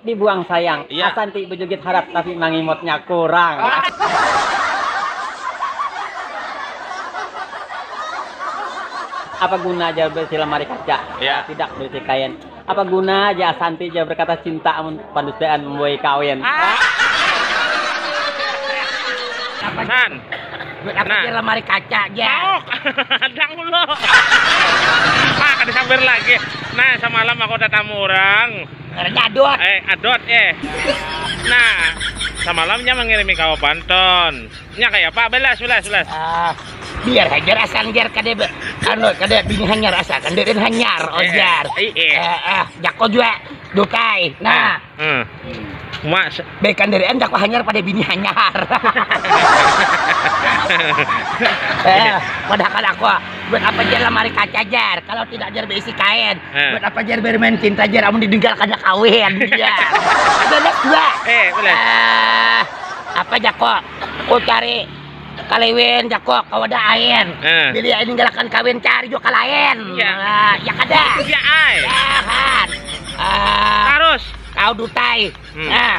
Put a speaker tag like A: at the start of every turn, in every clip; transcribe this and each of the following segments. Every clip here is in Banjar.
A: Dibuang sayang. Iya. Asa nti bejugit
B: harat
A: tapi mangimotnya kurang. Apa guna ja beisi lemari kaca, Iya. asa sidak beisi
B: kain.
A: Apa guna ja asa nti ja berkata cinta amun pandustaan membuahi kawin. San. Duit
B: apa Nah.
C: ja lemari kaca ja. Pauk. Hadang
B: ulu. Mak, disambar lagi. Nah, samalam aku tatamu urang. Ngarannya Adot. Eh,
C: Adot eh.
B: Nah, samalamnya mengirimi kawa banton. Nya kaya apa? Belas, belas, belas. Ah,
C: biar hajar asal jar kada be. Anu, kada bini hanyar asal kan deden hanyar eh, ojar. Eh, eh, eh. eh, eh jako juga dukai. Nah. Hmm.
B: Mas. Bekan dari
C: anda kok hanyar pada bini hanyar. eh, padahal aku buat apa dia lemari kaca jar kalau tidak jar berisi kain. Buat apa jar bermain cinta jar amun didugal kada kawin jar. Ada next dua. Eh, boleh. Eh, apa jako? Ku cari kaliwin jako kawada ain. Eh. Bila ain ninggalakan kawin cari jua kalain. Ya. Ah, ya kada. Ya ai.
B: Tahan.
C: Ah,
B: Tarus. kau dutai.
C: Hmm. Ah,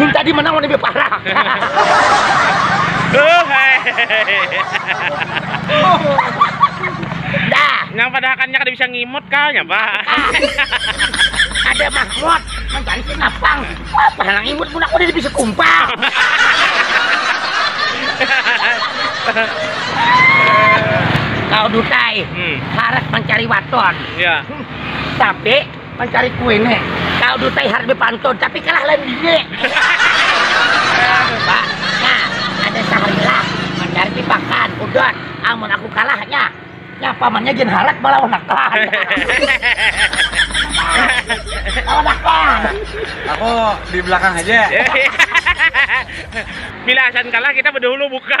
C: Mun tadi menang lebih parah. Dah. Nang pada hakannya kada
B: bisa ngimut kah nya pak?
C: Ada mahmud mencari kenapang. Apa nang ngimut mun aku ada bisa kumpang. Kau dutai. Hmm. Harat mencari waton. Ya.
B: Tapi
C: Mancari kue ne, kau dutai harde pantun tapi kalah lain bini. Coba, nya ada saharilah mancari di pakan, udon, amun aku kalah nya, nya pamannya gin harat malawan akan.
A: Lawan akan. Aku di belakang haja.
B: Bila asan kalah kita bedahulu buka.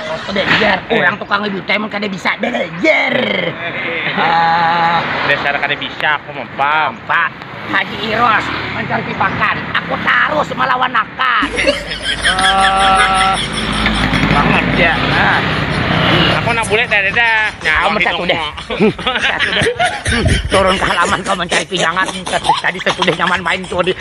C: Foto dajar, urang tukang lebih tua emang kada bisa dajar. Ah,
B: Dasar kada bisa aku mah, Pam. Pak Haji
C: Iros mancari pakan, aku tarus malawan akan. Ah, bangat ja. Ah.
B: Aku handak bulik kadada. Nah, Amun wahini satu deh. aku. Satu
C: deh. Turun ke halaman kau mencari pinjangan. Tadi satu deh nyaman main tuh di